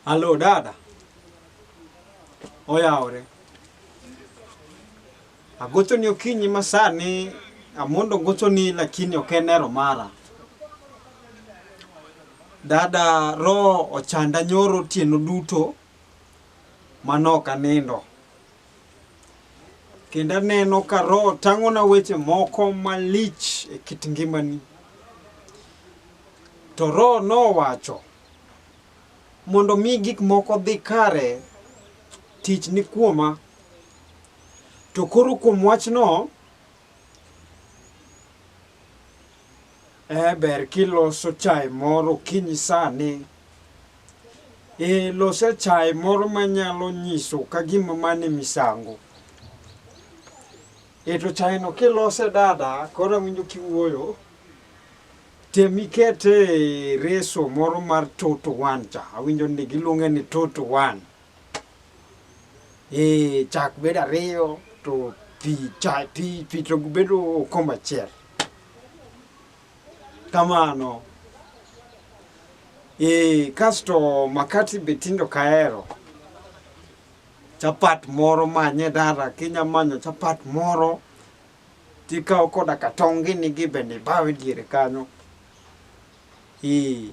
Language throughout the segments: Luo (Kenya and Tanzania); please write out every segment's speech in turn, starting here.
Alo dada, oyawore. Agochoni okinyi masani, amondo gochoni lakini ok en ero mara. Dada roho ochanda nyoro otieno duto manok anindo. Kendo aneno ka roho tang'ona weche moko malich e kit ngimani. To roho nowacho Mondo mi gik moko dhi kare, tich ni kuoma. To koro kuom wachno, eh, ber kiloso chai moro kinyi sani. Eh, lose chai moro manyalo nyiso ka gima mane misango. Eh, to chai no kilose dada, koro awinjo kiwuoyo. Tem iket e reso moro mar two to one cha, awinjo ni giluonge ni two to one. E chak bedo ariyo to pi cha pi pi to bedo okombe achiel. Kamano. E kasto makati be tindo kaero. Chapat moro manye dara kinya manyo chapat moro Tikawo koda ka tong' gini gi bende ibawe diere kanyo. Ee.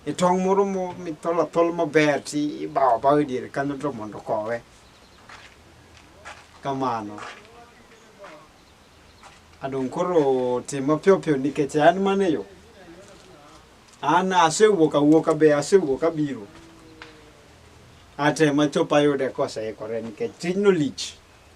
E tong' moro mithol athol maber ti ibawo bawe diere kanyo to mondo kowe. Kamano. Adong' koro tim mapiyo piyo nikech an mane yo. An asewuok awuoka be asewuok abiro. Atema chopa yude koseikore nikech tijno lich.